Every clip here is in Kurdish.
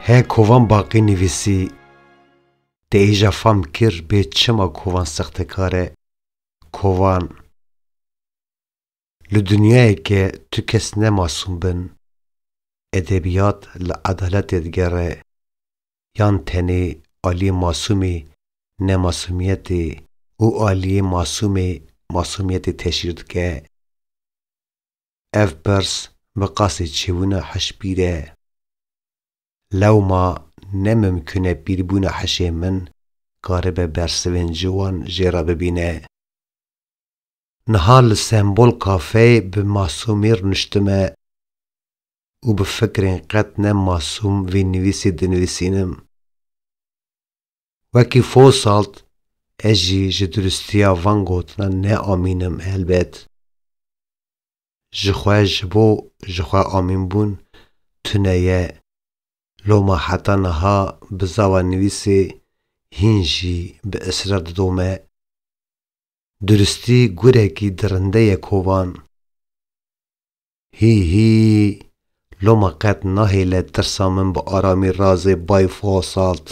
Hê kovan baqî nivîsî te êja fam kir bê çima kovan sextekar e, kovan. Li dinyayeke tu kes ne masûm bin, edebiyat li edaletê digere, yan tenê aliyê masûmê ne masûmiyetê û aliyê masûmê masûmiyetê teşhîr dike? Ev pirs bi qasê çêbûna hiş pîr e. Lewma ne mimkûn e pîrbûna hişê min karibe bersivên ciwan jê re bibîne. Niha li Sembol Kafeyê bi masûmî rûniştime û bi fikrên qet ne masûm vî nivîsî dinivîsînim. Wekî Fosalt ez jî ji duristiya van gotinan neamînim helbet. Ji xwe ji bo ji xwe amînbûn tune ye. Loma heta niha bi zava nivîsê hîn jî bi israr didome. Duristî gurekî dirinde ye kovan. Hî hî, loma qet nahêle tirsa min bi aramî razê bay Fosalt.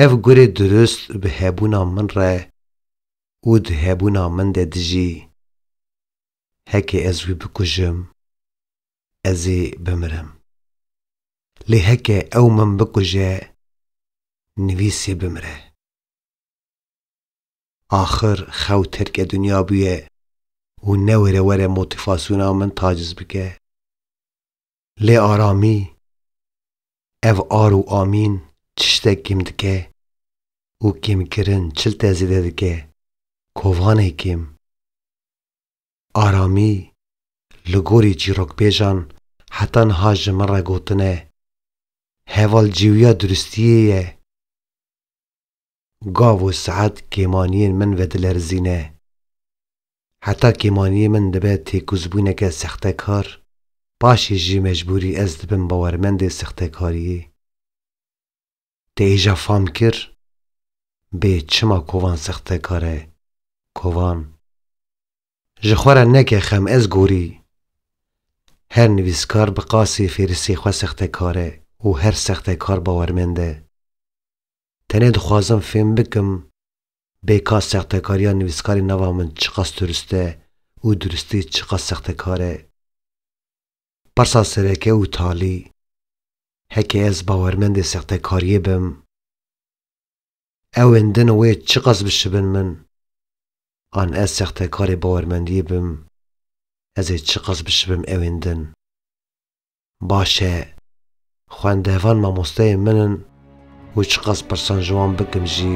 Ev gurê durist bi hebûna min re û di hebûna min de dijî. Heke ez wî bikujim, ez ê bimirim. Lê heke ew min bikuje, nivîsê bimire. Axir xew tirke dinya bûye û newêre were motifasyona min taciz bike. Lê Aramî, ev ar û amîn çiştek kêm dike û kêmkirin çilte zêde dike, kovanê kêm. Aramî li gorî çîrokbêjan heta niha ji min re gotine, Heval cêwiya duristiyê ye. Gav û saet kêmaniyên min vedilerzîne. Heta kêmaniyê min dibe têkozbûneke sextekar, paşê jî mecbûrî ez dibim bawermendê sextekariyê. Te êja fam kir? Bê çima kovan sextekar e? Kovan. Ji xwe re neke xem ez gorî. Her nivîskar bi qasê fêrisê xwe sextekar e û her sextekar bawermend e. Tenê dixwazim fêm bikim bê ka sextekariya nivîskarê nava min çiqas durist e û duristî çiqas sextekar e. Pirsa sereke û talî, heke ez bawermendê sextekariyê bim, ewên din wê çiqas bişibin min, an ez sextekarê bawermendiyê bim, ez ê çiqas bişibim ewên din. Baş e. Xwendevan mamosteyên min in û çiqas pirsan ji wan bikim jî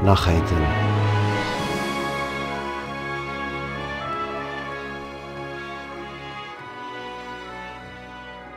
naxeytin.